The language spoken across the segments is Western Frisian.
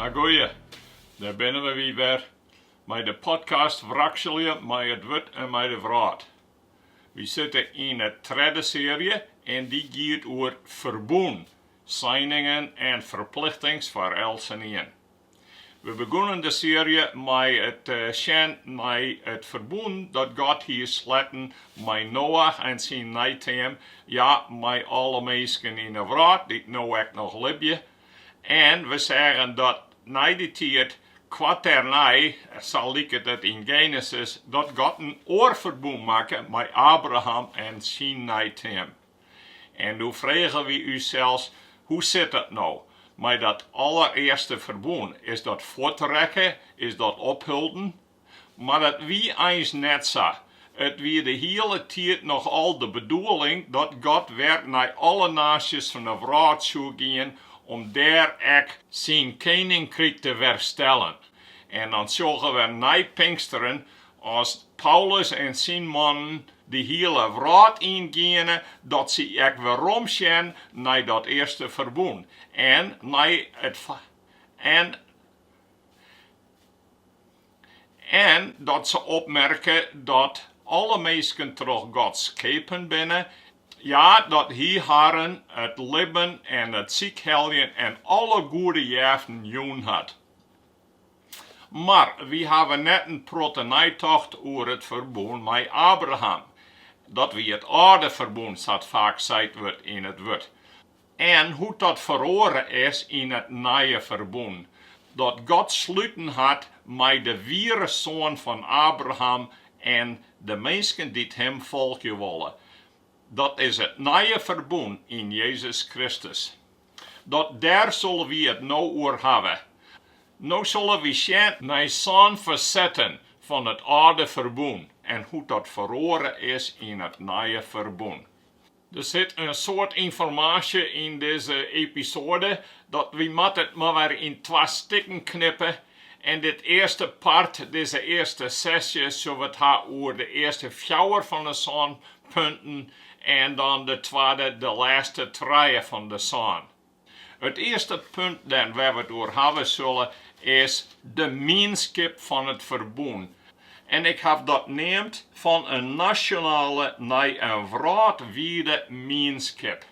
Ah goeie, dêr binne we wy wer mei de podcast Wrakselje mei it wurd en mei de wrâld. Wy sitte yn 'e tredde searje en dy giet oer ferbûn, seiningen en ferplichtings foar eltsenien. We begûnen de searje mei it sjen nei it ferbûn dat God hie sletten mei Noach en syn neiteam, ja, mei alle minsken yn 'e wrâld dy't no ek noch libje. En we seagen dat nei dy tiid, koarternei sa liket it yn Genesis, dat God in oar ferbûn makke mei Abraham en syn neiteam. En doe frege wy ús sels, hoe sit dat no mei dat allerearste ferbûn? Is dat fuortrekke? Is dat opholden? Mar dat wie eins net sa. It wie de hiele tiid noch al de bedoeling dat God wer nei alle naasjes fan 'e wrâld soe gean om dêr ek Syn keninkryk te werstellen. En dan sjogge we nei Pinksteren As Paulus en syn mannen de hiele wrâld yn giene, dat se ek werom sjen nei dat earste ferbûn en en dat se opmerke dat alle minsken troch God skepen binne, ja, dat Hy harren it libben en it sykheljen en alle goede jeften jûn hat. Mar wy hawwe net in protte neitocht oer it ferbûn mei Abraham, dat wie it âlde ferbûn sa't faak seit wurdt yn it wurd, en hoe't dat feroare is yn it nije ferbûn, dat God sluten hat mei de wiere soan fan Abraham en de minsken dy't him folgje wolle. Dat is it nije ferbûn yn Jezus Kristus. Dat dêr sille wy it no oer hawwe. No sille wy sjen nei sân fersetten fan it âlde ferbûn en hoe't dat feroare is yn it nije ferbûn. Der sit in soad ynformaasje yn dizze episoade dat wy moatte it mar wer yn twa stikken knippe en dit earste part, dizze earste sesje, sil we it ha oer de earste fjouwer fan 'e sân punten en dan de twadde, de lêste trije fan de sân. It earste punt dêr't we it oer hawwe sille is de mienskip fan it ferbûn. En ik haw dat neamd fan in nasjonale nei in wrâldwide mienskip.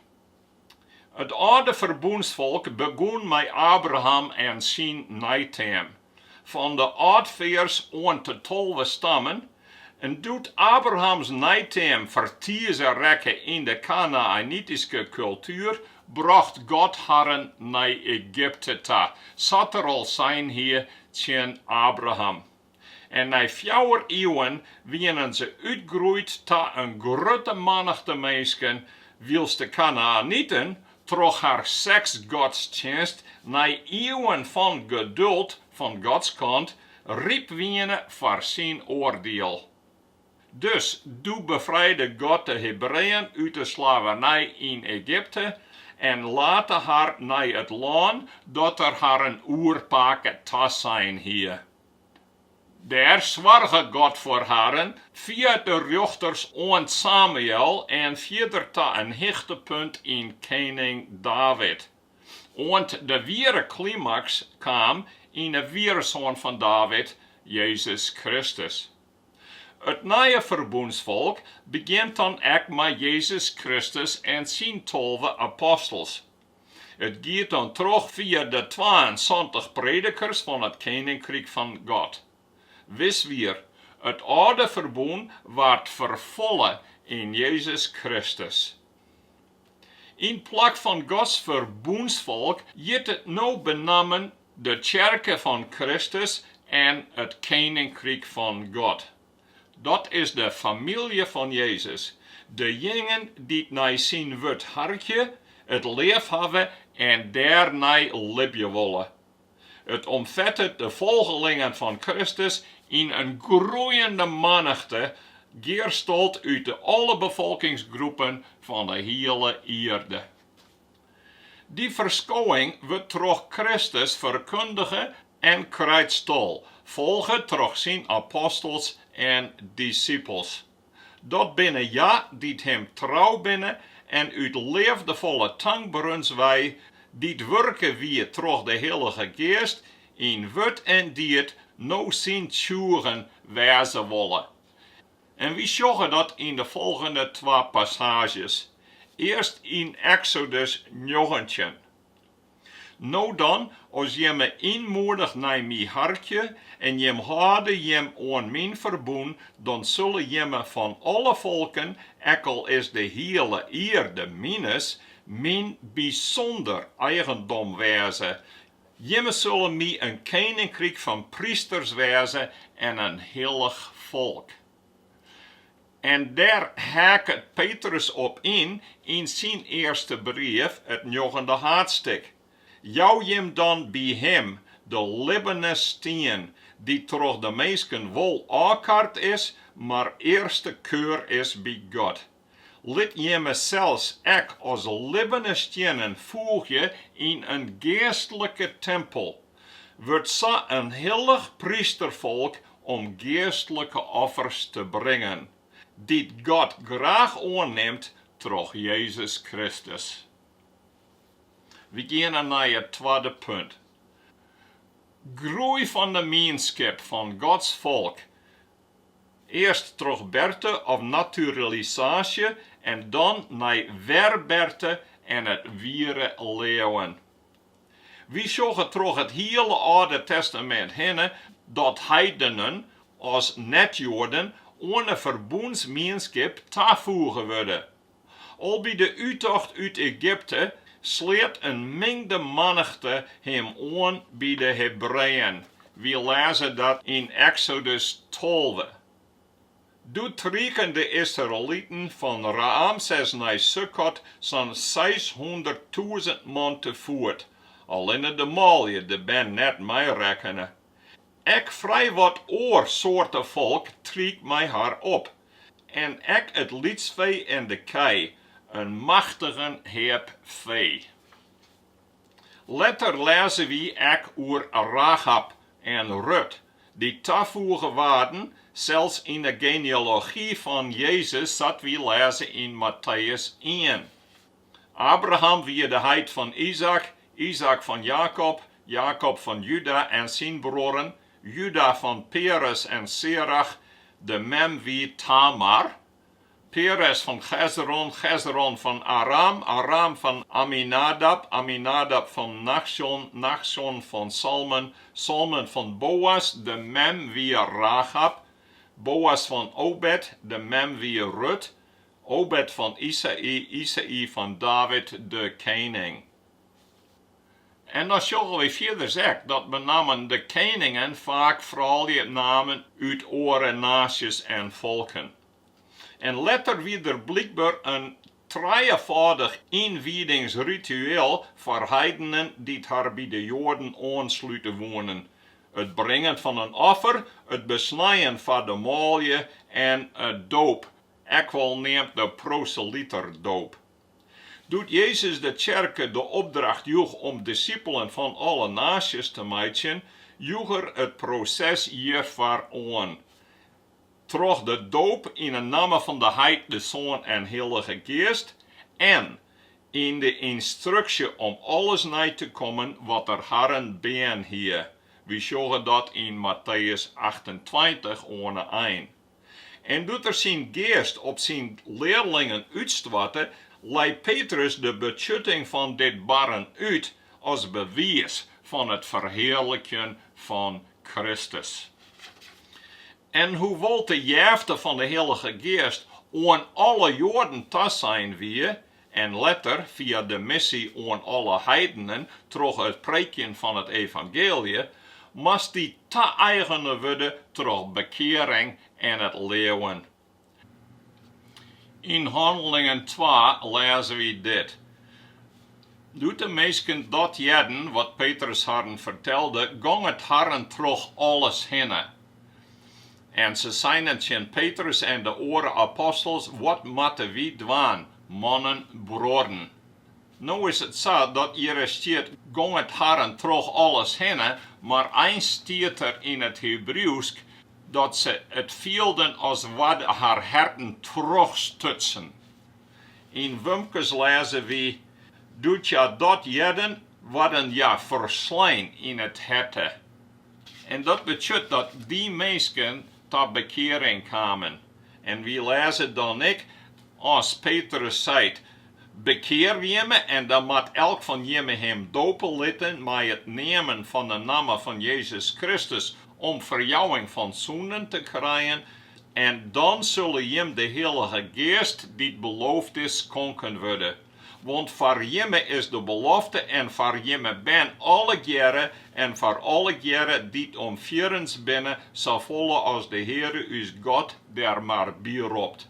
It âlde ferbûnsfolk begûn mei Abraham en syn neiteam. Fan de âldfears oant de tolve stammen. En doe't Abrahams neiteam fertize rekke yn de Kanaänityske kultuer, brocht God harren nei Egypte ta, sa't Er al sein hie tsjin Abraham. en nei fjouwer iuwen wienen se útgroeid ta in grutte mannichte minsken, wylst de Kanaäniten troch har seksgodstsjinst nei iuwen fan geduld fan Gods kant ryp wiene foar syn oardiel. Dus doe befrijde God de Hebreeën út de slavernij yn Egypte en late har nei it lân dat Er harren oerpake tasein hie. Dêr soarge God foar harren fia de rjochters oant Samuël en fierder ta in hichtepunt yn kening David. Oant de wiere klimaks kaam yn 'e wiere Soan fan David, Jezus Kristus. It Nije Ferbûnsfolk begjint dan ek mei Jezus Kristus en syn tolve apostels. It giet dan troch fia de twaensantich predikers fan it Keninkryk fan God. Wis wier, it âlde ferbûn waard ferfolle yn Jezus Kristus. Yn plak fan Gods ferbûnsfolk hjit it no benammen de Tsjerke fan Kristus en it Keninkryk fan God. Dat is de famylje fan Jezus, de jingen dy't nei syn wurd harkje, it leafhawwe en dêrnei libje wolle. It omfettet de folgelingen fan Kristus yn in groeiende mannichte, gearstold út de alle befolkingsgroepen fan de hiele ierde. Dy ferskowing wurdt troch Kristus ferkundige en krijt stal, folge troch syn apostels en dissipels. Dat binne hja dy't him trou binne en út leafdefolle tankberens wei, dy't wurke wie troch de Hillige Geast, yn wurd en died no syn tsjûgen wêze wolle. En wy sjogge dat yn de folgjende twa passaazjes, earst yn Eksodus njoggentjin, No dan, as jimme ynmoedich nei my harkje en jim hâlde jim oan myn ferbûn, dan sille jimme fan alle folken, ek al is de hiele ierde mines, myn bysûnder eigendom wêze, Jimme sille my in keninkryk fan prysters wêze en in hillich folk. En dêr haket Petrus op yn, yn syn earste brief, it njoggende haadstik, Jou jim dan by Him, de libbene stien, dy't troch de minsken wol ôfkard is, mar earste keur is by God. Lit jimme sels ek as libbene stiennen foegje yn in geastlike timpel. Wurd sa in hillich prysterfolk om geastlike offers te bringen, dy't God graach oannimt troch Jezus Kristus. Wy geane nei it twadde punt. Groei fan de mienskip fan Gods folk Earst troch berte of naturalisaasje en dan nei werberte en it wiere leauwen. Wy sjogge troch it hiele Alde Testamint hinne dat heidenen as net-Joaden oan 'e ferbûnsmienskip tafoege wurde. Al by de úttocht út Egypte sleat in mingde mannichte him oan by de Hebreeën, wy lêze dat yn Eksodus tolve. Doe trieken de Israeliten fan Raämses nei Sukkot sa'n seishûnderttûzen man te foet, allinne de manlju de bern net meirekkene. Ek frij wat oar soarte folk triek mei har op, en ek it lytsfee en de kij, in machtigen heap fee. Letter lêze wy ek oer Rachab en Rut, dy't tafoege waarden, sels yn 'e genealogy fan Jezus, sa't wy lêze yn Matteüs ien. Abraham wie de heit fan Izaäk, Izaäk fan Jakob, Jakob fan Juda en syn bruorren, Juda fan Peres en Serach, de mem wie Tamar, Peres fan Chezron, Chezron fan Aram, Aram fan Aminadab, Aminadab fan Nachsjon, Nachsjon fan Salmon, Salmon fan Boas, de mem wie Rachab, Boas fan Obed, de mem wie Rut, Obed fan Isaï, Isaï fan David de kening. En dan sjogge wy fierders ek dat benammen de keningen faak froulje namen út oare naasjes en folken. En letter wie der blykber in trijefâldich ynwiedingsritueel foar heidenen dy't har by de Joaden oanslute woenen, it bringen fan in offer, it besnijen foar de manlju en de doop. ek wol neamd de proseliterdoop. Doe't Jezus de tsjerke de opdracht joech om dissipelen fan alle naasjes te meitsjen, joech er it proses hjirfoar oan. Troch de doop yn 'e namme fan de Heit, de Soan en Hillige Geast en yn de ynstruksje om alles nei te kommen wat er harren hjitten hie, wy sjogge dat yn Matteüs achtentweintich oan 'e ein. En doe't er syn geast op syn learlingen útstoarte, lei Petrus de betsjutting fan dit barren út as bewiis fan it ferhearlikjen fan Kristus. En hoewol't de jefte fan de Hillige Geast oan alle Joaden tasein wie, en letter fia de missie oan alle heidenen troch it preekjen fan it evangeelje, moast dy ta-eigene wurde troch bekearing en it leauwen. Yn Hannelingen twa lêze wy dit, Doe't de minsken dat hearden wat Petrus harren fertelde, gong it harren troch alles hinne. En se seinen tsjin Petrus en de oare apostels, Wat moatte wy dwaan, mannen, bruorren? No is it sa, dat hjirre stiet, Gong it harren troch alles hinne, mar eins stiet der yn it Hebrieuwsk, dat se it fielden as waarden har herten trochstutsen. Yn Wumkes lêze wy, Doe't hja dat hearden, waarden hja ferslein yn it herte. En dat betsjut dat dy minsken ta bekearing kamen. En wy lêze dan ek, as Petrus seit, Bekear jimme en dan moat elk fan jimme him dope litten mei it neamen fan 'e namme fan Jezus Kristus om ferjouwing fan sûnden te krijen, en dan sille jim de Hillige Geast dy't beloofd is skonken wurde. Want foar jimme is de belofte en foar jimme bern allegearre en foar allegearre dy't om fierrens binne, safolle as de Heare ús God der mar by ropt.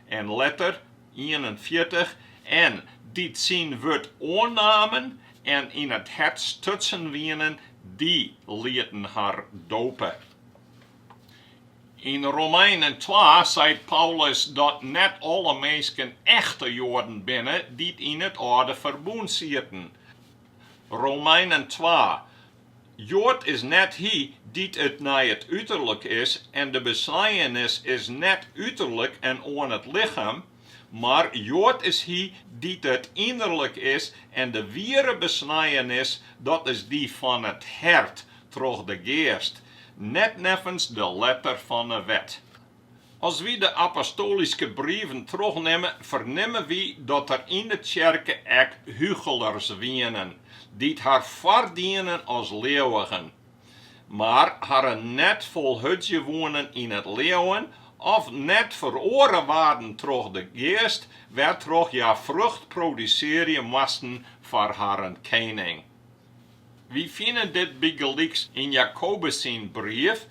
En letter, ienenfjirtich, en dy't syn wurd oannamen en yn it hert stutsen wienen, dy lieten har dope. Yn Romeinen twa seit Paulus dat net alle minsken echte Joaden binne dy't yn it Alde Ferbûn sieten. Romeinen twa, Joad is net hy dy't it nei it uterlik is en de besnijenis is net uterlik en oan it lichem, Mar Joad is hy dy't it ynnerlik is en de wiere besnijenis, dat is dy fan it hert, troch de Geast, net neffens de letter fan 'e wet. As wy de apostoalyske brieven trochnimme, fernimme wy dat der yn de tsjerke ek hugelers wienen, dy't har foardienen as leauwigen. mar harren net folhudzje woenen yn it leauwen of net feroare waarden troch de geast, wêrtroch hja frucht produsearje moasten foar harren kening. Wy fine dit bygelyks yn Jakobus syn brief,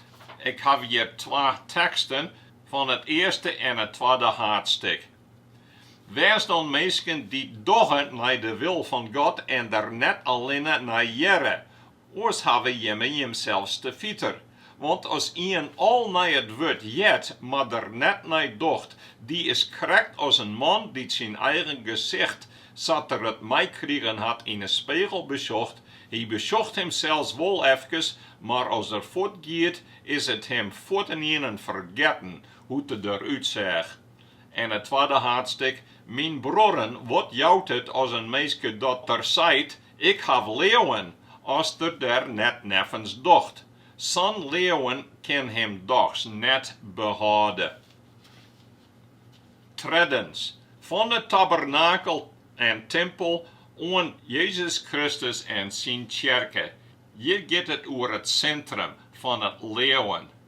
ik haw hjir twa teksten fan it earste en it twadde haadstik. Wês dan minsken dy't dogge nei de wil fan God en der net allinne nei harkje, Oars hawwe jimme jimsels te fiter. Want as ien al nei it wurd heart, mar der net nei docht, dy is krekt as in man dy't syn eigen gesicht, sa't er it meikrigen hat, yn 'e spegel besjocht. Hy besjocht himsels wol efkes, mar as er fuortgiet, is it him fuortendaliks fergetten hoe't er derút seach. En it twadde haadstik, Myn bruorren, wat jout it as in minske dat er seit, Ik haw leauwen as er der net neffens docht. Sa'n leauwen kin him dochs net behâlde. Treddens, fan 'e tabernakel en timpel oan Jezus Kristus en syn tsjerke. Hjir giet it oer it sintrum fan it leauwen.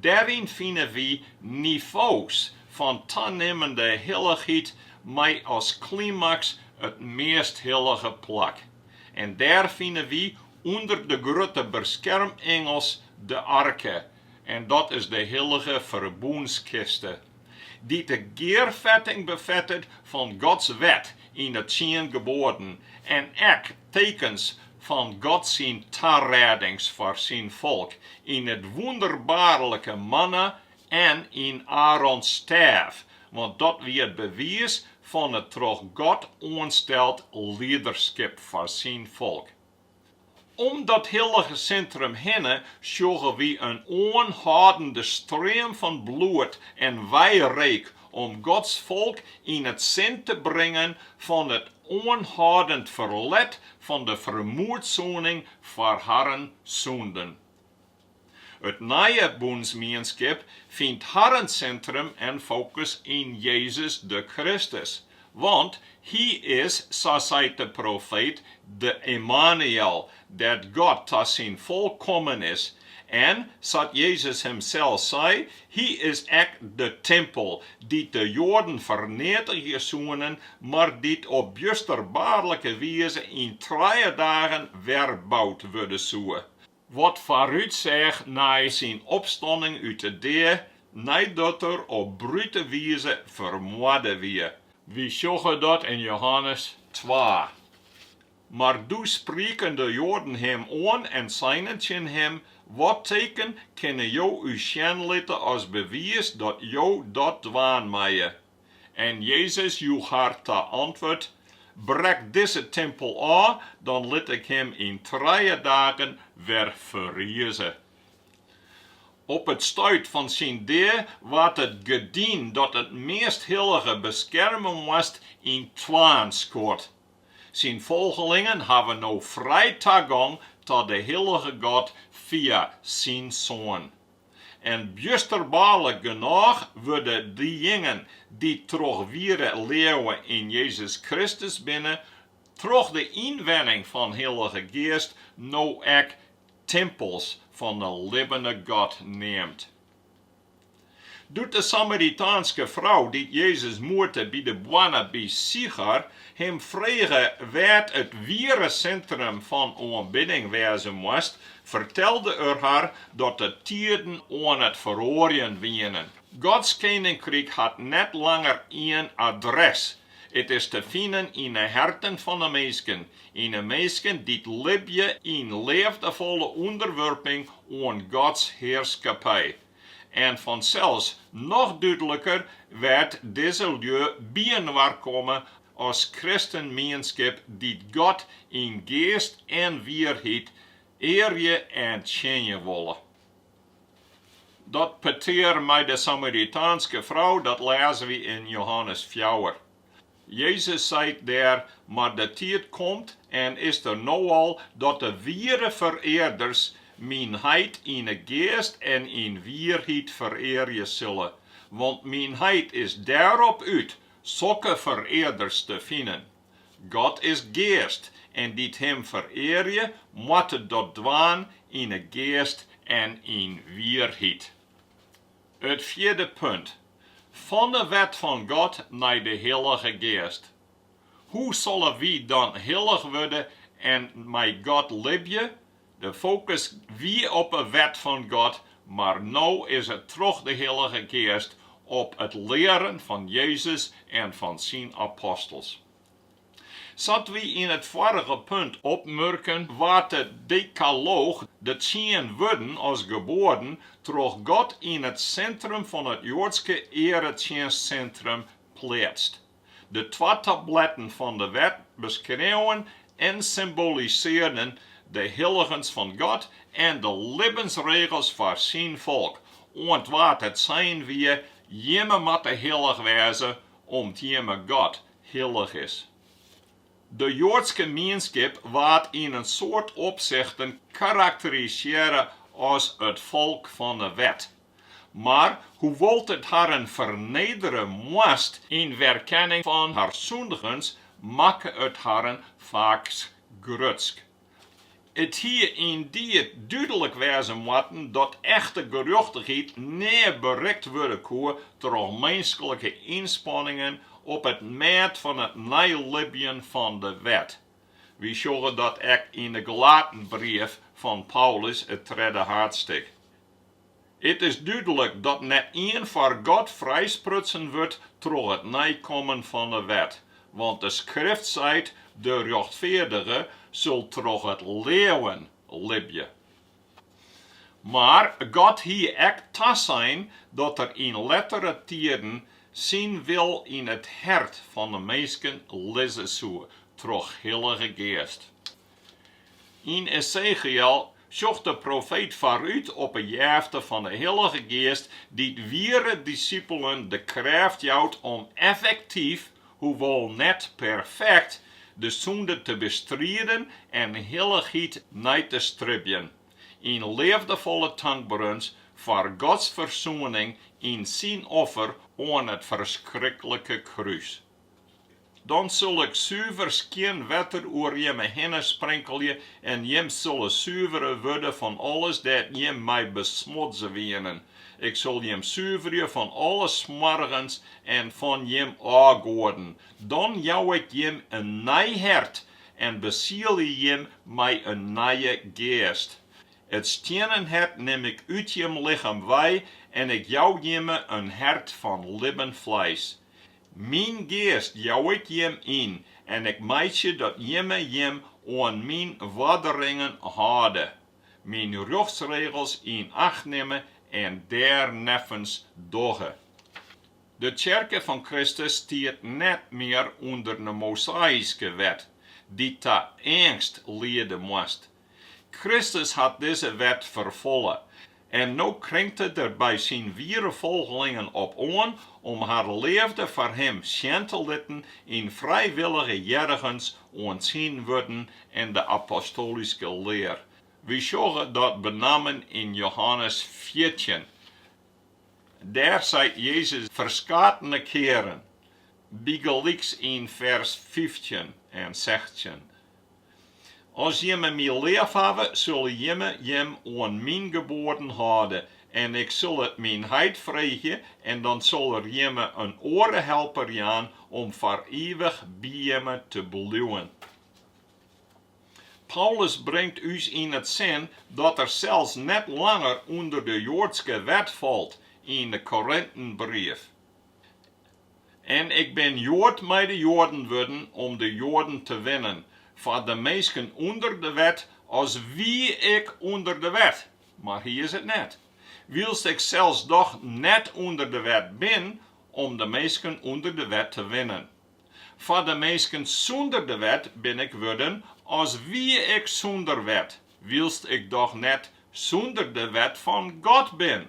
Dêryn fine wy nivo's fan tanimmende hillichheid mei as klimaks it meast hillige plak. En dêr fine wy ûnder de grutte beskermingelen de arke, en dat is de hillige ferbûnskiste. dy't de gearfetting befettet fan Gods wet yn de tsien geboaden en ek tekens fan God syn tarissings foar syn folk yn it wûnderbaarlike manna en yn Aarons stêf, want dat wie it bewiis fan it troch God oansteld liederskip foar syn folk. Om dat hillige sintrum hinne sjogge wy in oanhâldende stream fan bloed en weireek om Gods folk yn it sin te bringen fan it oanhâldend ferlet fan de fermoedsoening foar harren sûnden. It nije bûnsmienskip fynt harren sintrum en fokus yn Jezus de Kristus, want Hy is, sa seit de profeet, de Immanuël, dêr't God ta syn folk kommen is. En, sa't Jezus himsels sei, Hy is ek de timpel, dy't de Joaden ferneatigje soenen, mar dy't op bjusterbaarlike wize yn trije dagen wer boud wurde soe. Wat foarútseach nei syn opstanning út 'e dea neidat er op brute wize fermoarde wie. Wy sjogge dat yn Johannes twa. Mar doe sprieken de Joaden him oan en seinen tsjin him, Wat teken kinne jo ús sjen litte as bewiis dat jo dat dwaan meie? En Jezus joech har ta antwurd, Brek dizze timpel ôf, dan lit ik him yn trije dagen wer ferrize. Op it stuit fan syn dea waard it gerdyn dat it Measthillige beskerme moast yn twaen skuord. Syn folgelingen hawwe no frij tagong ta de Hillige God fia syn Soan. en bjusterbaarlik genôch wurde diejingen dy't troch wiere leauwe yn Jezus Kristus binne, troch de ynwenning fan Hillige Geast no ek timpels fan de libbene God neamd. Doe't de Samaritaanske frou dy't Jezus moete by de boarne by Sichar him frege wêr't it wiere sintrum fan oanbidding wêze moast, fertelde er har dat de tiden oan it feroarjen wienen. Gods keninkryk hat net langer ien adres. It is te finen yn de herten fan de minsken, yn de minsken dy't libje yn leafdefolle ûnderwurping oan Gods hearskippij. En fansels noch dúdliker wêr't dizze lju byinoar komme as kristenmienskip dy't God yn geast en wierheid earje en tsjinje wolle. Dat petear mei de Samaritaanske frou, dat lêze wy yn Johannes fjouwer. Jezus seit dêr, Mar de tiid komt, en is der no al, dat de wiere ferearders myn heit yn 'e geast en yn wierheid ferearje sille, want myn heit is dêrop út, sokke ferearders te finen. God is geast, en dy't Him ferearje, moatte dat dwaan yn 'e geast en yn wierheid. It fjirde punt, fan de wet fan God nei de Hillige Geast. Hoe sille wy dan hillich wurde en mei God libje? De fokus wie op 'e wet fan God, mar no is it troch de Hillige Geast op it learen fan Jezus en fan syn apostels. Sa't wy yn it foarige punt opmurken, waard de Dekalooch, de tsien wurden as geboaden, troch God yn it sintrum fan it Joadske earetsjinstsintrum pleatst. De twa tabletten fan de Wet beskreauwen en symbolisearden de hilligens fan God en de libbensregels foar Syn folk, oant wa't it sein wie, Jimme moatte hillich wêze, om't Jimme God hillich is. De Joadske mienskip waard yn in soad opsichten karakterisearre as it folk fan 'e wet. Mar hoewol't it harren fernedere moast yn werkenning fan har sûndigens, makke it harren faaks grutsk. It hie yndied dúdlik wêze moatten dat echte gerjochtichheid nea berikt wurde koe troch minsklike ynspanningen op it mêd fan it neilibjen fan de wet. Wy sjogge dat ek yn de Galatenbrief fan Paulus, it tredde haadsttik. It is dúdlik dat net ien foar God frijsprutsen wurdt troch it neikommen fan 'e wet, want de Skrift seit, De rjochtfeardige sil troch it leauwen libje. Mar God hie ek tasein dat er yn lettere tiden syn wil yn it hert fan 'e minsken lizze soe troch Hillige Geast. Yn Ezechiël sjocht de profeet foarút op 'e jefte fan 'e Hillige Geast dy't wiere disipelen de krêft jout om effektyf, hoewol net perfekt, de sûnde te bestriden en hillichheid nei te stribjen, yn leafdefolle tankberens foar Gods fersoening yn Syn offer oan it ferskriklikke krús. Dan sil ik suver skjin wetter oer jimme hinne sprinkelje en jim sille suvere wurde fan alles dêr't jim mei besmotze wienen. Ik sil jim suverje fan alle smoargens en fan jim ôfgoaden. Dan jou ik jim in nij hert en besielje jim mei in nije geast. It stiennen hert nim ik út jim lichem wei en ik jou jimme in hert fan libben fleis. Myn geast jou ik jim yn en ik meitsje dat jimme jim oan myn oarderingen hâlde, myn rjochtsregels yn acht nimme en dêrneffens dogge. De tsjerke fan Kristus stiet net mear ûnder de Mosaïske Wet, dy't ta eangst liede moast, Kristus hat dizze wet ferfolle en no kringt Er der by Syn wiere folgelingen op oan om har leafde foar Him sjen te litten yn frijwillige hearrigens oan Syn wurden en de apostoalyske lear. Wy sjogge dat benammen yn Johannes fjirtjin. Dêr seit Jezus ferskatene kearen, bygelyks yn fers fyftjin en sechstjin, As jimme my leafhawwe, sulle jimme jim oan myn geboaden hâlde, en ik sil it myn heit freegje, en dan sil er jimme in oare helper jaan om foar ivich by jimme te bliuwen. Paulus bringt ús yn it sin dat er sels net langer ûnder de Joadske Wet falt yn de Korintenbrief. En ik bin Joad mei de Joaden wurden om de Joaden te winnen, foar de minsken ûnder de wet, as wie ik ûnder de wet, mar hy is it net, wylst ik sels doch net ûnder de wet bin, om de minsken ûnder de wet te winnen. Foar de minsken sûnder de wet bin ik wurden as wie ik sûnder wet, wylst ik doch net sûnder de wet fan God bin.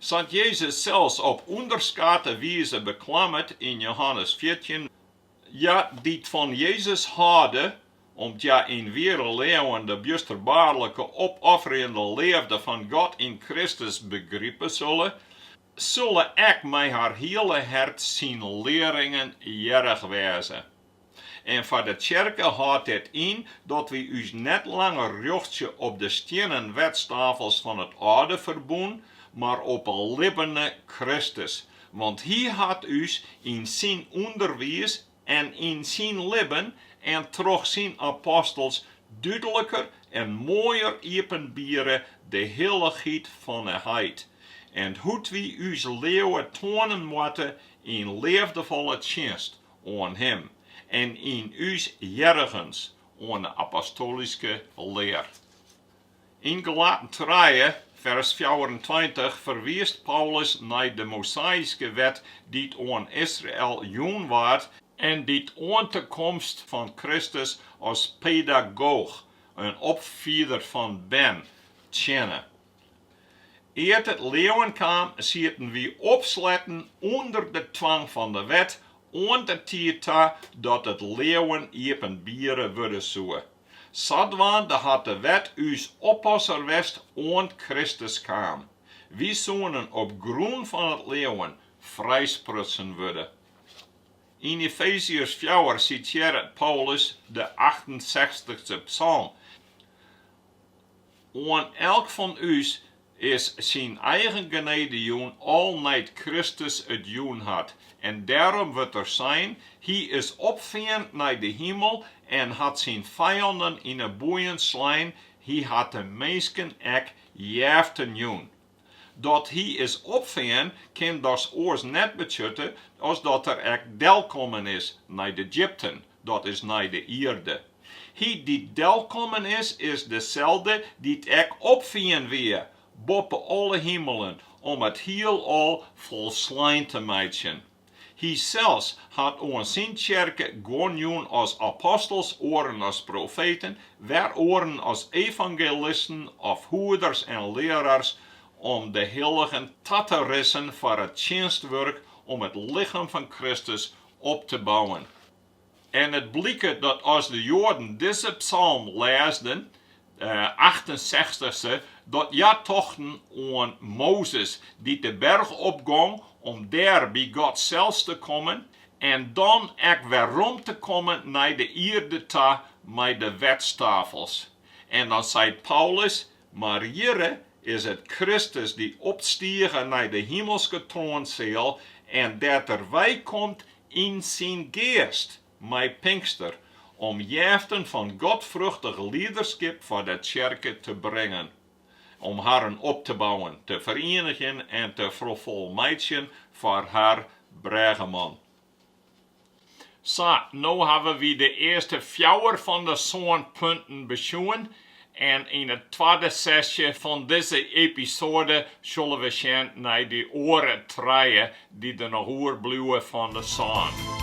Sa't Jezus sels op ûnderskate wize beklammet yn Johannes fjirtjin, Hja dy't fan Jezus hâlde, om't hja yn wiere leauwen de bjusterbaarlike opofferjende leafde fan God yn Kristus begripe sulle, Sulle ek mei har hiele hert syn learringen hearrich wêze. En foar de tsjerke hâldt dit yn dat wy ús net langer rjochtsje op de stiennen wetstafels fan it âlde ferbûn, mar op 'e libbene Kristus, want Hy hat ús yn Syn ûnderwiis en yn syn libben en troch syn apostels dúdliker en moaier iepenbiere de hillichheid fan 'e heit en hoe't wy ús leauwe toanen moatte yn leafdefolle tsjinst oan Him en yn ús hearrigens oan 'e apostoalyske lear. Yn Galaten trije, fers fjouwerentweintich ferwiist Paulus nei de Mosaïske Wet dy't oan Israel jûn waard en dy't oant de komst fan Kristus as pedagoach, in opfieder fan bern, tsjinne. Ear't it leauwen kaam, sieten wy opsletten ûnder de twang fan de Wet, oant de tiid ta dat it leauwen iepenbiere wurde soe. Sadwaande hat de wet ús oppasser west oant Kristus kaam. Wy soenen op grûn fan it leauwen frijsprutsen wurde. Yn Efeziërs fjouwer sitearret Paulus de achtensechstichste psalm, Oan elk fan ús is syn eigen genede jûn al nei't Kristus it jûn hat, en dêrom wurdt der sein, Hy is opfearn nei de himel en hat syn fijannen yn 'e boeien slein, hy hat de minsken ek jeften jûn. Dat hy is opfearn kin dochs oars net betsjutte as dat er ek delkommen is nei de djipten, dat is nei de ierde. Hy dy't delkommen is, is deselde dy't ek opfearn wie boppe alle himelen, om it hielal folslein te meitsjen. Hy sels hat oan syn tsjerke guon jûn as apostels, oaren as profeten, wer oaren as evangelisten of hoeders en learars om de hilligen ta te rissen foar it tsjinstwurk om it lichem fan Kristus op te bouwen. En it bliket dat as de Joaden dizze psalm lêsden, de achtensechstichste, dat hja tochten oan Mozes, dy't de berch opgong om dêr by God sels te kommen en dan ek werom te kommen nei de ierde ta mei de wetstafels. En dan seit Paulus, Mar hjirre is it Kristus dy opstige nei de himelske troanseal en dêr't er weikomt yn syn geast mei Pinkster, om jeften fan godfruchtich liederskip foar de tsjerke te bringen, om harren op te bouwen, te ferienigjen en te ferfolmeitsjen foar har Brêgeman. Sa, no hawwe wy de earste fjouwer fan de sân punten besjoen en yn it twadde setsje fan dizze episoade sille we sjen nei dy oare trije dy't der noch oerbliuwe fan de sân.